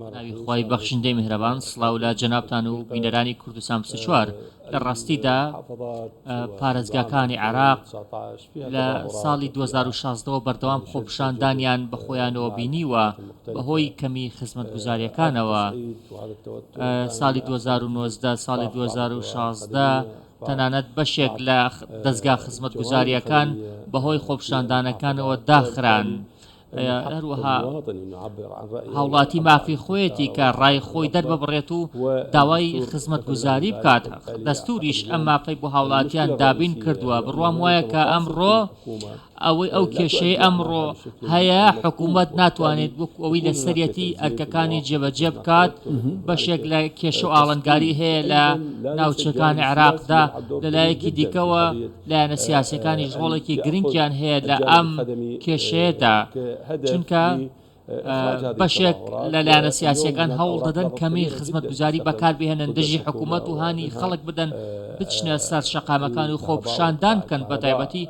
بەناوی خوای بەخشندەی میهرەبان سڵاو لە جەنابتان و بینەرانی کوردستان پسە چوار لە ڕاستیدا پارێزگاکانی عێراق لە ساڵی 2016ەوە بەردەوام خۆپشاندانیان بە خۆیانەوە بینیوە بەهۆی کەمی خزمەتگوزاریەکانەوە ساڵی 2009 ساڵی 2016 تەنانەت بەشێک لە دەستگا خزمەتگوزاریەکان بەهۆی خۆپشاندانەکانەوە داخران. هەروەها هاوڵاتی مافی خۆیەتی کە ڕای خۆی دەرببڕێت و داوای خزمەتگوزاری بکات دەستوریش ئەم مافەی بۆ هاوڵاتیان دابین کردووە بڕوام وایە کە ئەمڕۆ ئەوەی ئەو کێشەی ئەمڕۆ هەیە حکوومەت ناتوانێت وەک ئەوی لە سەرەتی ئەرکەکانی جێبەجێ بکات بەشێک لە کێشە و ئاڵنگاری هەیە لە ناوچەکانی عێراقدا لەلایەکی دیکەوە لایەنە سیاسیەکانیش ڕۆڵێکی گرنگیان هەیە لە ئەم کێشەیەدا چونکە بەشێک لە لایەنە سیاسیەکان هەوڵ دەدەن کەمی خزمەت گوزاری بەکاربهێنن دژی حکوومەت و هانی خەڵک بدەن بچنە سەر شەقامەکان و خۆپشاندان بکەن بە تایبەتی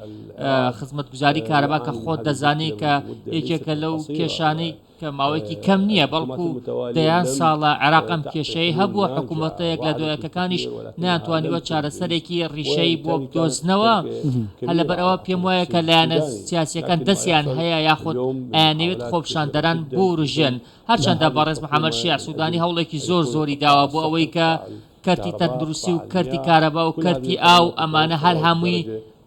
خزمەت گوزاری کارەبا کە خۆت دەزانێت کە یەکێکە لەو کێشانەی کە ماوەیەکی کەم نییە بەڵکو دەیان ساڵە عێراق ئەم کێشەیەی هەبووە، حکوومەتە یەکلادۆیەکەکانیش نەیانتوانیوە چارەسەرێکی ڕیشەیی بۆ بدۆزنەوە، هەر لەبەرئەوە پێم وایە کە لایەنە سیاسییەکان دەستیان هەیە یاخود ئەیانەوێت خۆپیشاندەران بورووژێن، هەرچەندە بەڕێز محەمەد شیاع سوودانی هەوڵێکی زۆر زۆری داوە بۆ ئەوەی کە کەرتی تەندروستی و کەرتی کارەبا و کەرتی ئاو ئەمانە هەر هەمووی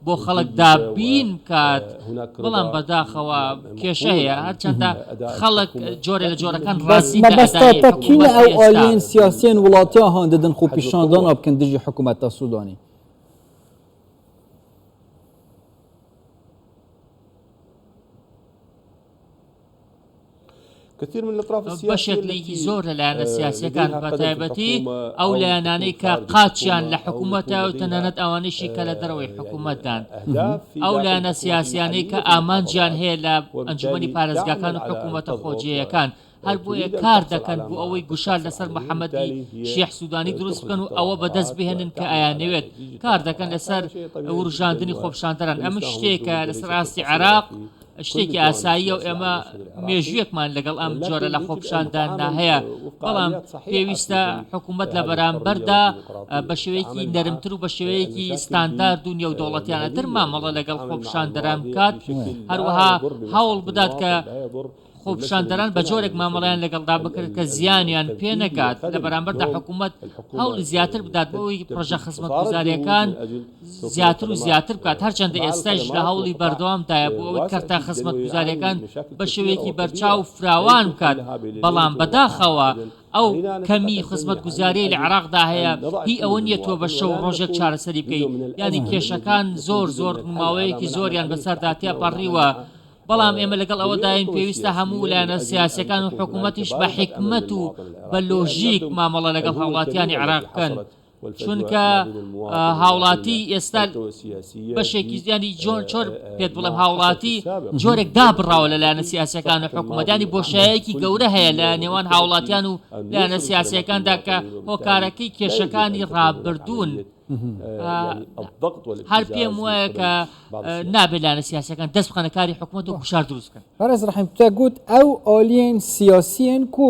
بۆ خەڵک دابین بکات بەڵام بەداخەوە کێشە هەیە هەرچەندە خەڵک جۆرێ لە جۆرەکان ڕازین لە ئەدائی حکومەتی ئێستا. بەس مەبەستە تە کینە ئەو ئالیەن سیاسیەن وڵاتیا هان دەدەن خۆپیشاندان ئابکەن دژی حکومەتە سودانی. بەشێک لەی زۆر لە لایەنە سیاسیەکان بە تایبەتی ئەو لایەنانەی کە قاچیان لە حکوومەتە و تەنانەت ئەوانەشی کە لە دەرەوەی حکوومەتدان ئەو لایەنە سیاسیانەی کە ئامانجیان هەیە لە ئەنجومی پارێزگاکان و حکوومەتە خۆجێیەکان هەر بۆیە کار دەکەن بۆ ئەوەی گوشار لەسەر محەممەدی شیح سوودانی دروست بکەن و ئەوە بەدەست بهێنن کە ئایانەوێت کار دەکەن لەسەر وروژاندنی خۆپشاندەران ئەمە شتێکە لەسەر ئاستی عێراق شتێکی ئاساییە و ئێمە مێژوویەکمان لەگەڵ ئەم جۆرە لە خۆپشانداندا هەیە بەڵام پێویستە حکوومەت لە بەرامبەردا بە شێوەیەکی نەرمتر و بە شێوەیەکی ستاندارد و نێودەوڵەتیانەتر مامەڵە لەگەڵ خۆپشاندەران بکات هەروەها هەوڵ بدات کە خۆپشاندەران بە جۆرێک مامەڵیان لەگەڵدا بکرد کە زیانیان پێ نەکات لە بەرامبەردا حکوومەت هەوڵی زیاتر بدات بۆی پرۆژە خزمەت گوزارەکان زیاتر و زیاتر بکات، هەرچەندە ئێستایش لە هەوڵی بەردەوامدایە بۆ ئەوەی کەرتە خزمەتگوزارییەکان بە شێوەیەکی بەرچاو فراوان بکات، بەڵام بەداخەوە ئەو کەمیی خزمەتگوزارییەی لە عێراقدا هەیە هی ئەوە نییە تۆ بە شەو و ڕۆژێک چارەسەری بکەیت، یانی کێشەکان زۆر زۆر ماوەیەکی زۆریان بەسەردا تێپەڕیوە، بەڵام ئێمە لەگەڵ ئەوەداین پێویستە هەموو لایەنە سیاسییەکان و حکوومەتیش بە حیکمەت و بە لۆژیک مامەڵە لەگەڵ هاوڵاتیانی عێراق بکەن. چونکە هاوڵاتی ئێستا بەشێکی زیانی جۆن چۆر پێت بڵێم هاوڵاتی جۆرێک دابڕاوە لە لایەنە سیاسەکان و حکوومەدانی بۆشایەکی گەورە هەیە لە نێوان هاوڵاتیان و لایەنە سیاسەکاندا کە هۆکارەکەی کێشەکانی ڕابردوون. هەر پێم وایە کە نابێلانە سیاسەکان دەست بخەنە کاری حکوومەت و گوشار دروستکەن بەڕێز ڕحیم تە گوت ئەو ئۆلیین سیاسیین کو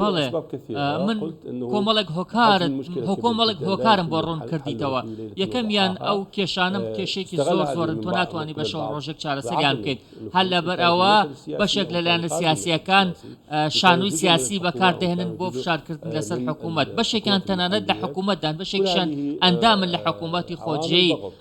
بەڵێ من کۆمەڵێک هۆکارن هۆکۆمەڵێک هۆکارم بۆ ڕوون کردیتەوە یەکەمیان ئەو کێشانم کێشێکی زۆر زۆرن تۆ ناتوانانی بە شەو ڕۆژێک چارەسەریان بکەیت هەر لەبەر ئەوە بەشێک لەلایەنە سیاسیەکان شانوی سیاسی بەکاردەهێنن بۆ فشارکردن لەسەر حکوومەت بەشێکان تەنانەت لە حکوومەتدان بەشێکشان ئەندامن لە حکوومەتتی خۆجێی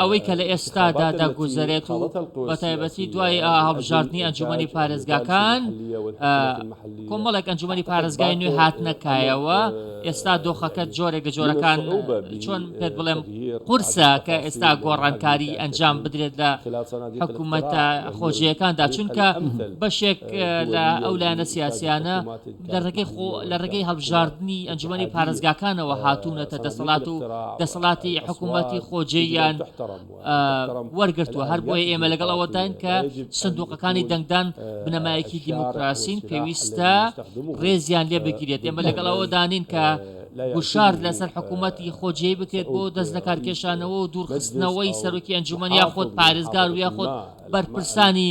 ئەوەی کە لە ئێستادا دەگوزارێت و بەتایبەتی دوای هەڵبژاردننی ئەنجومی پارێزگاکان کۆمەڵێک ئەنجومی پارێزگای نوێ هاتنەکایەوە ئێستا دۆخەکە جۆرێک لە جۆرەکان چۆن پێت بڵێم قورسە کە ئێستا گۆڕانکاری ئەنجام بدرێت لە حکوومەتە خۆجیەکاندا چونکە بەشێک لە ئەو لایەنە سیاسیانە لە ڕێگەی خۆ لە ڕێگەی هەڵبژاردننی ئەنجومی پارێزگاکانەوە هاتوونەتە دەسەڵات و دەسەڵاتی حکوومەتی خۆجێیان وەرگتووە هەر بۆیە ئێمە لەگەڵ ئەوەداین کە سندوقەکانی دەنگدان بنەمایەکی دیموکراسین پێویستە ڕێزیان لێ بگیرێت ئێمە لەگەڵ ئەوەدانین کە گوشار لەسەر حکوومەتی خۆجێ بکرێت بۆ دەست لە کارکێشانەوە و دوورخستنەوەی سەرۆکی ئەنجومەنیا خۆت پارێزگار وە خۆت بەرپرسانی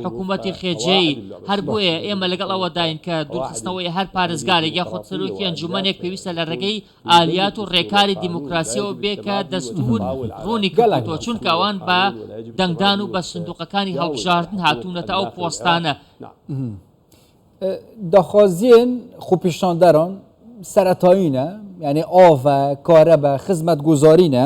حکوومەتی خێجێی، هەر بۆیە ئێمە لەگەڵ ئەوەداین کە دوورخستنەوەی هەر پارێزگارێک یاخود سەرۆکی ئەنجوومەنێک پێویستە لە ڕێگەی ئالیات و ڕێکاری دیموکراسییەوە بێ کە دەستوور ڕوونی کردووەتەوە چونکە ئەوان بە دەنگدان و بە سندووقەکانی هەڵبژاردن هاتوونەتە ئەو پۆستانە. داخوازییەن خوپیشاندەران سەرەتایینە، یانی ئاڤە، کارەبا، خزمەتگوزارینە،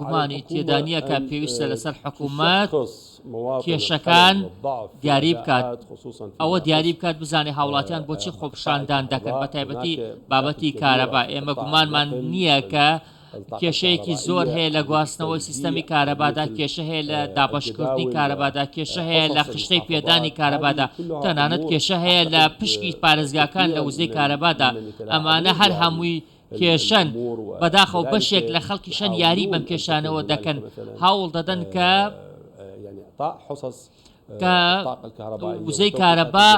گومانی تێدا نییە کە پێویستە لەسەر حکوومەت کێشەکان دیاری بکات ئەوە دیاری بکات بزانێ هاوڵاتیان بۆچی خۆپشاندان دەکەن بە تایبەتی بابەتی کارەبا ئێمە گومانمان نییە کە کێشەیەکی زۆر هەیە لە گواستنەوەی سیستەمی کارەبادا کێشە هەیە لە دابەشکردنی کارەبادا کێشە هەیە لە خشتەی پێدانی کارەبادا تەنانەت کێشە هەیە لە پشکی پارێزگاکان لە وزەی کارەبادا ئەمانە هەر هەمووی کێشەن بەداخەوە بەشێک لە خەڵکی شەن یاری بەم کێشانەوە دەکەن هەوڵ دەدەن کە کە وزەی کارەبا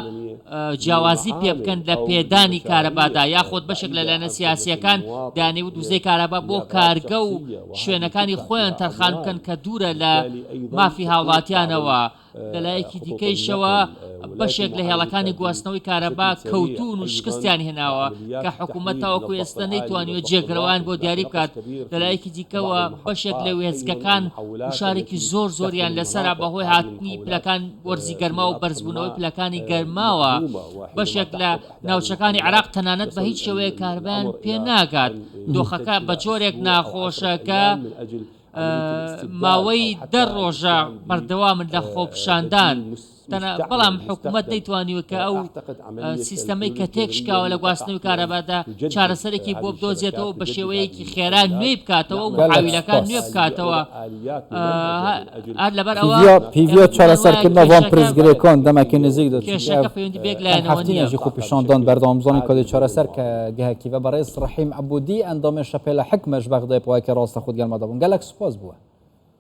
جیاوازی پێ بکەن لە پێدانی کارەبادا یاخود بەشێک لە لایەنە سیاسیەکان دانیوت وزەی کارەبا بۆ کارگە و شوێنەکانی خۆیان تەرخان بکەن کە دوورە لە مافی هاوڵاتیانەوە لەلایەکی دیکەیشەوە بەشێک لە هێڵەکانی گواستنەوەی کارەبا کەوتون و شکستیان هێناوە کە حکوومەت تاوەکو ئێستا نەیتوانیوە جێگرەوەیان بۆ دیاری بکات لەلایەکی دیکەوە بەشێک لە وێستگەکان گوشارێکی زۆر زۆریان لەسەرە بەهۆی هاتنی پلەکان وەرزی گەرما و بەرزبوونەوەی پلەکانی گەرماوە بەشێک لە ناوچەکانی عراق تەنانەت بە هیچ شێوەیە کاربیان پێ ناگات دۆخەکە بە جۆرێک ناخۆشەکە ماوەی دە ڕۆژە بەردەوامن لە خۆپشاندان بەڵام حکومەت نەیتوانیوە کە ئەو سیستەمەی کە تێکشکاوە لە گواستنەوەی کارەبادا چارەسەرێکی بۆ بدۆزێتەوە و بە شێوەیەکی خێرا نوێی بکاتەوە و محاویلەکان نوێ بکاتەوە هەر لەبەر ئەوە پیڤیۆ چارەسەرکردنە بۆم پرسگرێ کۆن دەمەکی نزیک دەچێت کێشەکە پەیوەندی بێک لایەنەوە نییە هەفتینێژی خۆ پیشاندان بەردەوامزانی کۆدی چارەسەر کە گەهکی بە بەڕێز ڕەحیم عەبودی ئەندامی شەپێلە حکمەش بەغدای پواکی ڕاستە خود گەرمادەبوون گەلەک سوپاس بووە